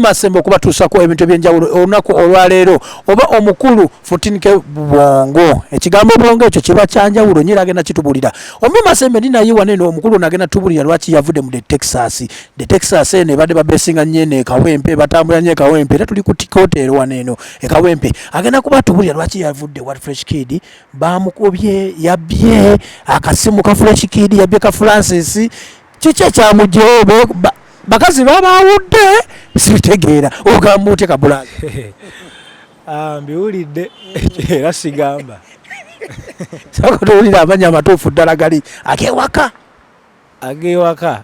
masembe okubatuusako ebintu ebyenjawulo olunaku olwaleero oba omukulu futinike bwongo ekigambo bwongo ekyo kiba kyanjawulo nyo era agenda kitubulira ombi masembe ndi naye wane no omukulu nagenda tubulira lwaki yavudde mu de texas de texas eno ebadde babesinga nyo eno ekawempe batambula nyo ekawempe era tuli ku tikotero wane eno ekawempe agenda kuba tubulira lwaki yavudde wat fresh kid bamukubye yabbye akasimu ka fresh kid yabbye ka francis kiki ekyamugyewo bakazi babawudde sibitegeera ogamba otya kabulazi ah, mbiwulidde era sigamba sakotowulira amanya amatuufu ddala gali agewaka agewaka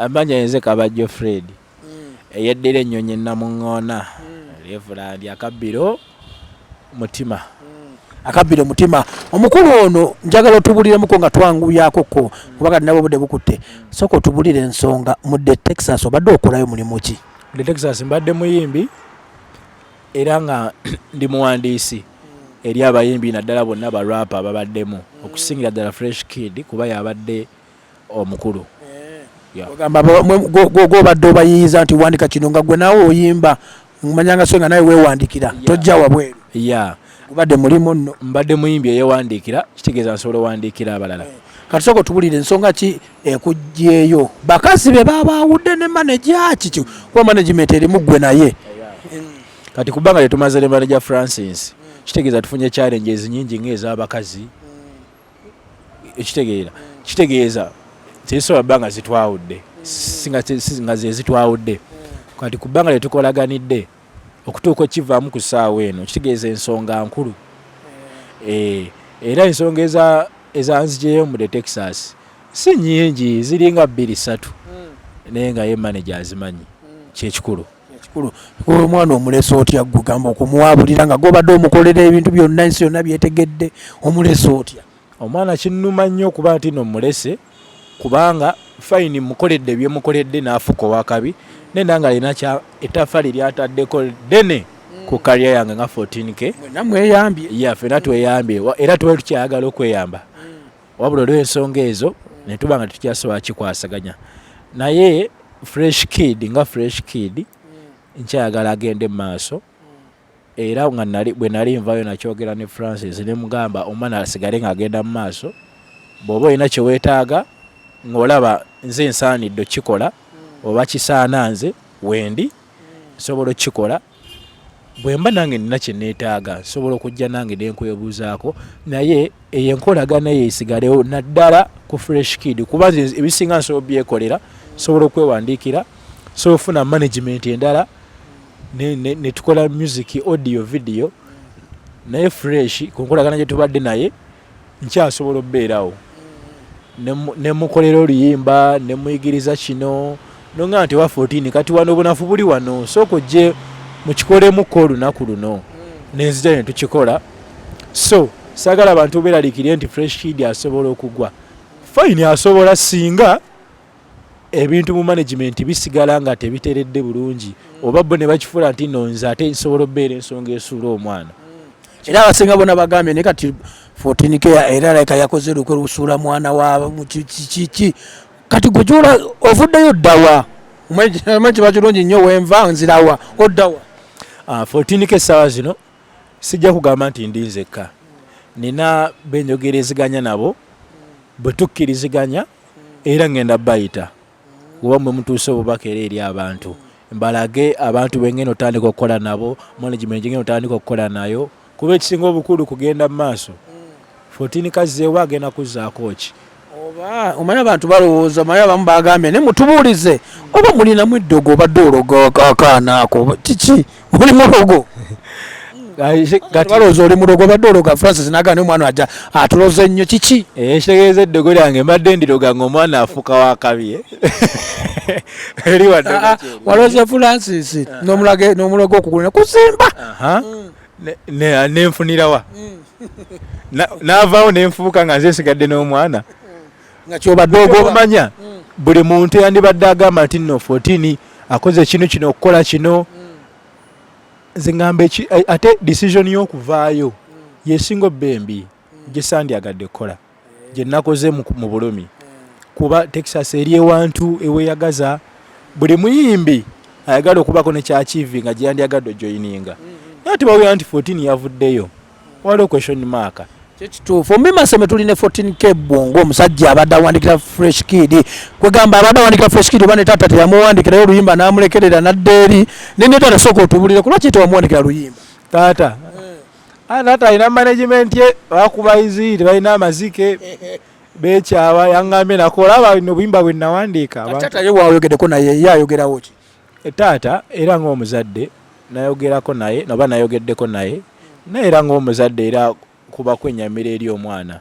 amanya yenze kabajjo fred mm. eyeddira ennyonyi namuŋŋoona mm. lyevula ndi akabbiro mutima mm. akabbiro mutima omukulu ono njagala otubuliremukko nga twanguyakoko kuba kati nabo obudde bukutte soka otubulire ensonga mudde texas obadde okolayo mulimu ki mudde texas mbadde muyimbi era nga ndi muwandiisi eri abayimbi naddala bonna barapa babaddemu okusingira ddala fresh kid kuba yabadde omukulu ogamba gwobadde obayiyiza nti wandika kino nga gwe naawe oyimba manyanga so nga nawe wewandikira tojja wabweru ya gubadde mulimu nno mbadde muyimbi eyewandiikira kitegeeza nsobola owandiikira abalala eh, kati soka otubulire ensonga ki ekugyeyo bakazi be babaawudde ne maneja kiki kuba management erimu ggwe naye kati kubanga tetumaze ne maneja francis kitegeeza tufunye challenges nyingi ngaez'abakazi ekitegeera kitegeeza tezisobola bba nga zitwawudde nga zezitwawudde kati ku bbanga lyetukolaganidde okutuuka okivaamu ku ssaawa eno kitegeeza ensonga nkulu eh, era ensonga ezanzijeyo mude texas si nyingi ziringa bbiri satu hmm. naye nga ye manaje azimanyi hmm. kyekikulu ekikulu omwana omulesa otya gwe gamba okumuwabulira nga gwobadde omukolera ebintu byonna ensi yonna byetegedde omulesa otya omwana kinnuma nnyo okuba nti no mulese kubanga fayini mukoledde byemukoledde naafuka owakabi naye nanga alina etafaali lyataddeko ddene ku kaliya yange nga 14 k namweyambye ya fena tweyambye era tuba tukyayagala okweyamba wabula olw'ensonga ezo ne tuba nga tetukyasobola kikwasaganya naye fresh kid nga fresh kid mm. nkyayagala agende mu maaso mm. era nga bwe nali nvayo nakyogera ne francis ne mugamba omwana asigale ng'agenda mu maaso bw'oba olina kye weetaaga ng'olaba nze nsaanidde okukikola mm. oba kisaana nze wendi nsobola okukikola bwemba nange nina kyenetaaga nsobola okujja nange nenkwebuzaako naye eyo enkolagana eyo esigalewo naddala ku fresh kid kuba nze ebisinga nsobola obyekolera nsobola okwewandiikira nsobola okufuna management endala netukola music audio video naye fresh ku nkolagana gyetubadde naye nkyasobola obeerawo nemukolera oluyimba nemuyigiriza kino nonga nti wa 14 kati wano obunafu buli wano sooka ojje mukikolemuko olunaku luno nenzija netukikola so sagala bantu beralikire nti fresh kid asobola okugwa fine asobola singa ebintu mu management bisigala nga tebiteredde bulungi oba bo ne bakifuula nti no nze ate nsobola obeera ensonga esuula omwana era abasinga bona bagambye naye kati 14 k era laika yakoze lukwe lusuula mwana wa kiki kati gwe gyola ovuddeyo oddawa omanyi kiba kirungi nnyo wenva nzirawa oddawa 14 ah, k essaawa zino sijja kugamba nti ndi nzekka nina benjogereziganya nabo bwe tukkiriziganya era ŋŋenda bayita kuba mwe mutuusa obubaka era eri abantu mbalage abantu be ŋŋenda otandika okukola nabo management gye ŋŋenda otandika okukola nayo kuba ekisinga obukulu kugenda mu maaso fotini kazzeewo agenda kuzzaako ki oba omanyi abantu balowooza omanyi abamu bagambye naye mutubuulize oba mulinamu eddogo obadde ologa akaana ako kiki oli mulogo balowooza oli mulogo obadde ologa francis naga naye omwana aja atuloze nnyo kiki eh, ekitegeeza eddogo lyange mbadde ndiroga nga omwana afuuka wakabi eh? ah, ah, waloze francis ah. n'omulogo okugula kusimba nenfunirawa mm. navaawo nenfuuka nga nze nsigadde n'omwana nga kyobadde ogomanya mm. buli muntu yandibadde agamba nti no 14 akoze kino kino okukola kino mm. nze ngamba ate decision y'okuvaayo mm. yesinga obembi gyesandyagadde kukola eh. gyenakoze mu bulumi eh. kuba texas eri ewantu eweyagaza buli muyimbi ayagala okubako nekyakivi nga gyeyandyagadde ojoyininga naye tebawulira nti 14 yavuddeyo waliwo question mark kyekituufu mubimasome tuli ne 14k bwongo omusajja abadde awandikira fresh kid kwegamba abadde awandikira fresh kid oba ne taata teyamuwandikirayo oluyimba namulekerera nadda eri naye ne taata sooka otubulire kulwaki tewamuwandikira luyimba taata eh. ah, taata alina management ye bakuba izi tebalina amazike bekyaba yangambye nakola aba nobuyimba bwenawandiika taata ye wayogedeko naye ye ayogerawo ki E, taata era ng'omuzadde nayogerako naye oba nayogeddeko naye naye era ng'omuzadde era kuba kwenyamira eri omwana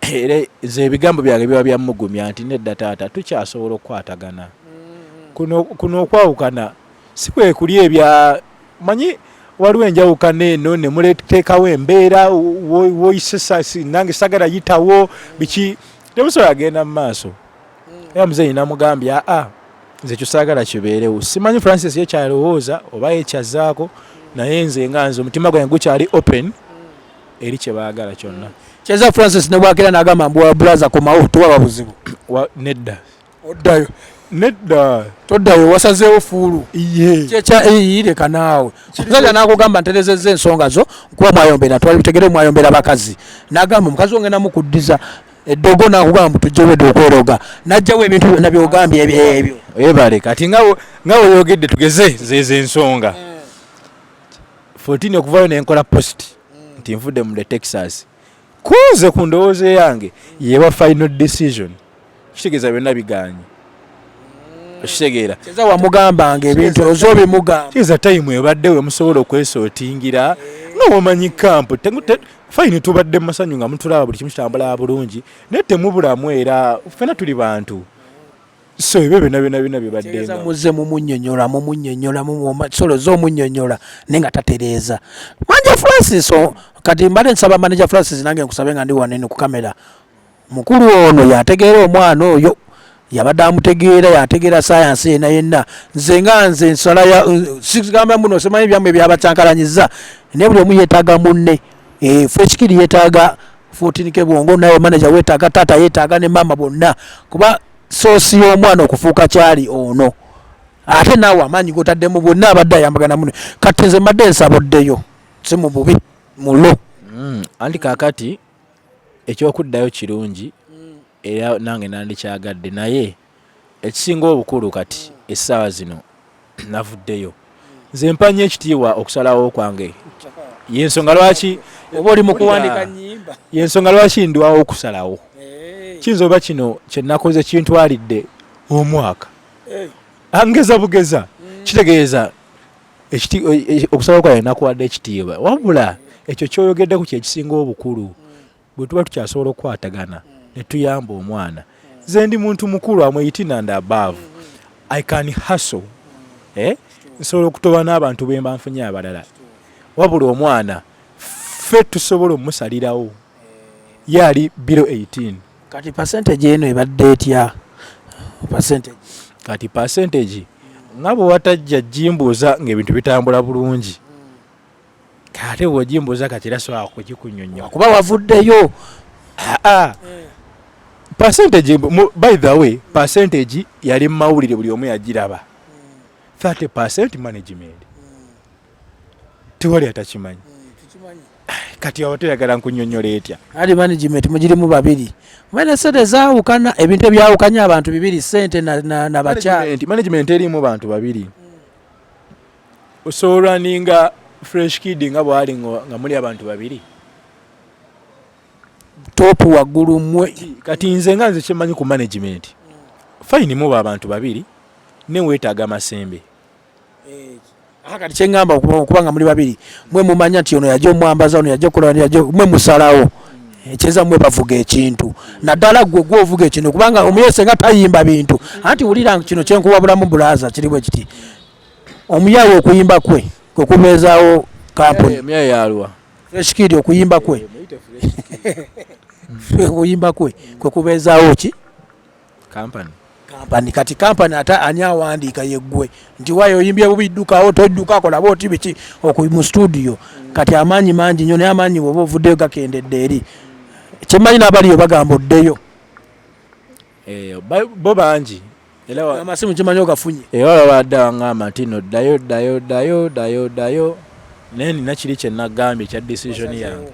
era nze ebigambo byange biba byamugumya nti nedda taata tukyasobola okukwatagana mm-hmm. kuno okwawukana si kwe kuli ebya manyi waliwo enjawukana eno ne muleteekawo embeera woyisesa nange sagala yitawo biki temusobola agenda mu maaso era muzeeyi namugambye aa nze kyosaagala kibeerewo simanyi francis yekyalowooza oba yekyazaako naye nze nga nze omutima gwange gukyali open eri kyebaagala kyonna kyeza francis nebwakera nagamba mbu wabulaza komawo towaba buzibu nedda oddayo nedda toddayo wasazeewo fuulu kyekyaireka naawe omusajja nakugamba nterezeza ensonga zo kuba mwayombera twali bitegere mwayombera bakazi nagamba omukazi ongenamu kuddiza eddogo nakugamba mbu tujja obwedda okweroga najjawo ebintu byonna byogambye ebyo ebale kati nga weyogedde tugeze zezo ensonga 14 mm. okuvayo nenkola post mm. nti nvudde mu the texas kunze ku ndowooza eyange yeba final decision kitegeeza byonna biganye okitegeera kyeza wamugambanga ebintu oza obimugamba kyeza tayimu ebadde we musobola okwesootingira nga wamanyi kampu fayini tubadde mu masanyu nga mutulaba buli kimu kitambula bulungi naye temubulamu era fena tuli bantu so ebyo byona byona byona bibaddemuze mumunyonyola mumunyonyola solo zomunyonyola naye nga tatereeza manja francis kati mbadde nsaba manaja francis nange nkusabe nga ndi wanene ku kamera Mukulu ono yategeera omwana oyo yabadde amutegeera yategeera sayansi yena yenna nze nga nze nsala sigamba muno simanyi byamu ebyabacankalanyiza naye buli omu yetaaga munne eh, fekikiri yetaaga fotinike bwongo naye manaja wetaaga taata yetaaga ne maama bonna kuba soosi y'omwana okufuuka kyali ono ate naawe amaanyi gotaddemu bwonna abadde ayambagana muno kati nze mbadde nsaboddeyo si mu bubi mulo mm, anti kakati Eky'okuddayo kirungi era nange nandikyagadde naye ekisinga obukulu kati essaawa zino navuddeyo nze mpa nnyo ekitiibwa okusalawo kwange yensonga lwaki oba oli mukuwandika nyimba yensonga lwaki ndwawo okusalawo eh. kiyinza oba kino kyenakoze kintwalidde omwaka eh. angeza bugeza mm. kitegeeza okusaba kwaye nakuwadde ekitiibwa wabula ekyo kyoyogeddeku kyekisinga obukulu bwe tuba tukyasobola okukwatagana ne tuyamba omwana nze ndi muntu mukulu amweyitina nda above i can hustle eh? nsobola okutoba n'abantu bemba nfunye abalala wabula omwana ffe tusobola omumusalirawo ye ali bilo 18 kati percentage eno ebadde etya percentage kati percentage nga bwe watajja jimbuuza ng'ebintu bitambula bulungi ate bwojimbuuza kati era sobola kukikunyonyola kuba wavuddeyo aa percentage by the way percentage yali mu mawulire buli omu yagiraba 30 percent management tewali atakimanyi eh, kati aba toyagala nkunyonyola etya ali management mugirimu babiri mwene sente zawukana ebintu ebyawukanya abantu bibiri sente nabakyali management erimu bantu babiri osobola ninga fresh kid nga bwali nga muli abantu babiri top waggulu mwe kati nze nga nze kyemanyi ku management fine muba abantu babiri newetaaga masembe akati kyengamba okuba nga muli babiri mwe mumanya nti ono yaja omwambaza ono yaja okola yaja mwe musalawo ekyeza mwe bavuga ekintu naddala gwe gwe ovuga ekintu kubanga omuyese nga tayimba bintu anti wulira kino kyenkuwabulamu bulaza kiri bwe kiti omuyawe okuyimba kwe kwe kubeezawo kampuni eshikidi okuyimba kwe okuyimba kwe kwe kubeezawo ki company kampani kati kampani ate ani awandiika yeggwe nti wayo oyimbye bubi ddukawo todduka akola booti biki oku mu studio kati amaanyi mangi nyo naye amaanyi woba ovuddeyo gakendedde eri kyemmanyi n'abaliyo bagamba oddeyo eh, bo bangi amasimu kimanyi ogafunye era eh, babadde abangamba nti no ddayo ddayo ddayo ddayo ddayo naye nina kiri kyenagambye ekya decision yange